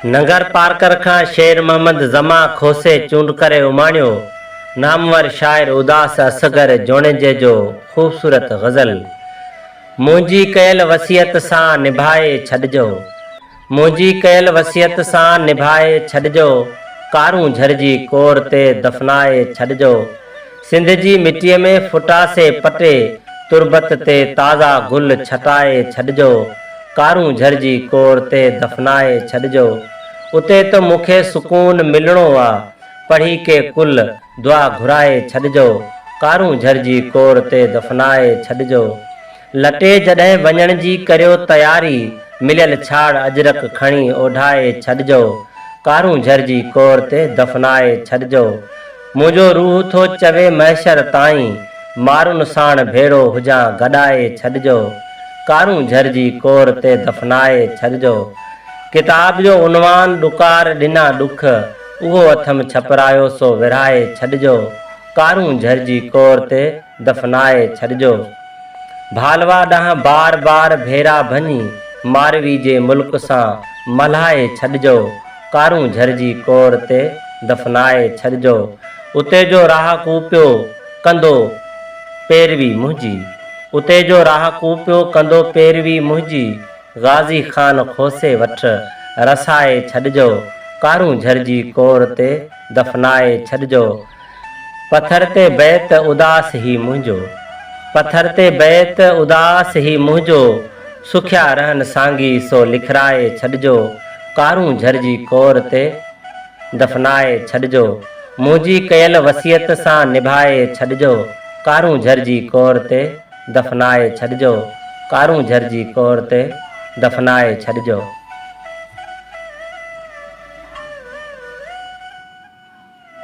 ننگر پارڪر کان شير محمد زمان کوسي چونڊ ڪري اماڻيو نامور شاعر اداس اصغر جوڻيجي جو خوبصورت غزل منهنجي ڪيل وصيت سان نڀائي ڇڏجو. منهنجي ڪيل وصيت سان نڀائي ڇڏجو، ڪارون جھرجي ڪور تي دفنائي ڇڏجو، سنڌ جي مٽيء ۾ ڦٽاسي پٽي، تربت تي تازا گل ڇٽائي ڇڏجو، ڪارون جھرجي ڪور تي دفنائي ڇڏجو، اتي ته مون کي سڪون ملڻو آ، پڙهي ڪي ڪل دعا گھرائي ڇڏجو، ڪارون جھرجي ڪور تي دفنائي ڇڏجو. لٽي جڏهن وڃڻ جي ڪريو تياري، مليل ڇاڙ اجرڪ کڻي اوڍائي ڇڏجو، ڪارون جهرجي ڪور تي دفنائي ڇڏجو، منهنجو روح ٿو چوي محشر تائين، مارن ساڻ ڀيڙو هجان گڏائي ڇڏجو، ڪارون جهرجي ڪور تي دفنائي ڇڏجو. ڪتاب جو عنوان ڏڪار ڏنا ڏک، اهو اٿم ڇپرايو سو ورهائي ڇڏجو، ڪارون جهرجي ڪور تي. دفنائي ڇڏجو. ڀالوا ڏانهن بار بار ڀيرا ڀڃي ماروي جي ملڪ سان ملهائي ڇڏجو. ڪارون جھر جي ڪور تي دفنائي ڇڏجو. اتي جو راهه ڪو پيو ڪندو پيروي منهنجي. اتي جو راهه ڪو پيو ڪندو پيروي منهنجي. غازي خان کوسي وٺ رسائي ڇڏجو. ڪارون جھر جي ڪور تي دفنائي ڇڏجو. پٿر تي بيت اداس هي منهنجو. پٿر تي بيت اداس هي منهنجو. سکيا رهن سانگي سو لکرائي ڇڏجو. ڪارون جهرجي ڪور تي دفنائي ڇڏجو. منهنجي ڪيل وصيت سان نڀائي ڇڏجو. ڪارون جهرجي ڪور تي دفنائي ڇڏجو. ڪارون جهرجي ڪور تي دفنائي ڇڏجو.